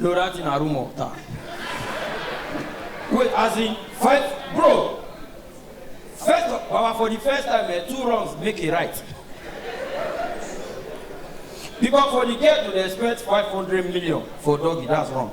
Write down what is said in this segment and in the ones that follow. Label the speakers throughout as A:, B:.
A: Lorati na rumor ta. Wait, as in fight, bro. First, of- Baba, for the first time, eh, two wrongs make a right. Because for the girl to dey expect 500 million for doggy, that's wrong.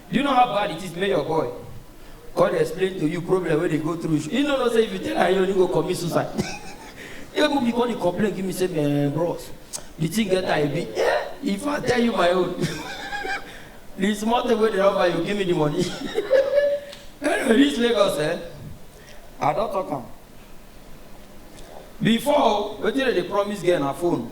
A: Do you know how bad it is make your boy come dey explain to you problem wey dey go through you you no know say if you tell am you no go commit suicide even me come dey complain give me say eh bros the thing get how e be eh if i tell you my own the small thing wey dey offer you give me the money anyway reach lagos eh i don talk am before wetin dem dey promise girl na phone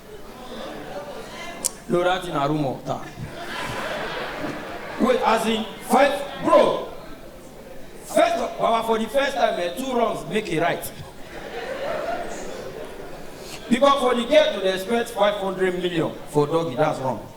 A: Lorati na rumor ta. Wait, as in fight, bro. First, our for the first time, eh, two wrongs make a right. Because for the girl to dey expect 500 million for doggy, that's wrong.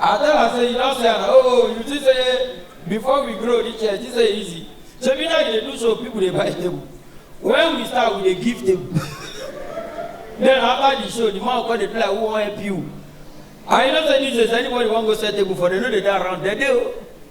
A: I tell am say you don see am oh oh you think say before we grow reach here this say easy shebi now you dey do so people dey buy table when we start we dey give table then after the show the man come dey play who wan help you and you know say these days anybody wan go sell table for dem no dey dey around dem dey o.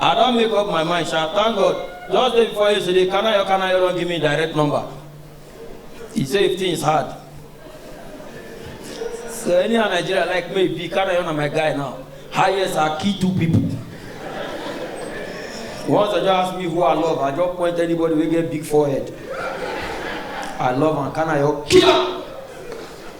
A: I don make up my mind sha, thank God. Just day before yesterday, Kanayo Kanayo don give me direct number. He say if things hard. So anyhow Nigeria like me be, Kanayo na my guy now. Highest are key two people. Once I just ask me who I love, I just point anybody wey get big forehead. I love am, Kanayo kill am.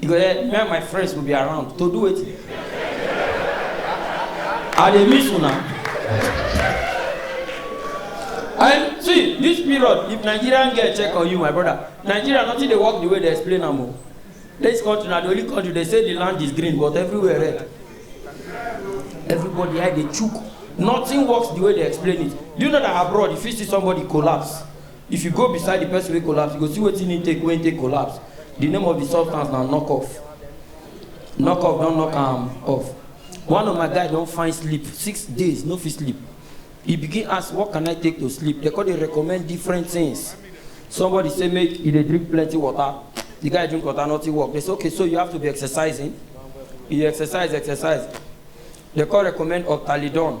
A: You go there, me and my friends will be around to do it. I dey miss una. And see, this period, if Nigerian girl check on you, my brother, Nigeria nothing dey work the way they explain am o. This country na the only country they say the land is green but everywhere red. Everybody eye dey chook. Nothing works the way they explain it. Do you know that abroad you fit see somebody collapse? If you go beside the person wey collapse, you go see wetin he take wey he take collapse. The name of the substance na knock off. Knock off don knock am off. One of my guy don find sleep, six days no fit sleep. He begin ask what can I take to sleep? They come dey recommend different things. Somebody say make he dey drink plenty water. The guy drink water, nothing work. They say okay so you have to be exercising. He exercise, exercise. They come recommend Optalidon.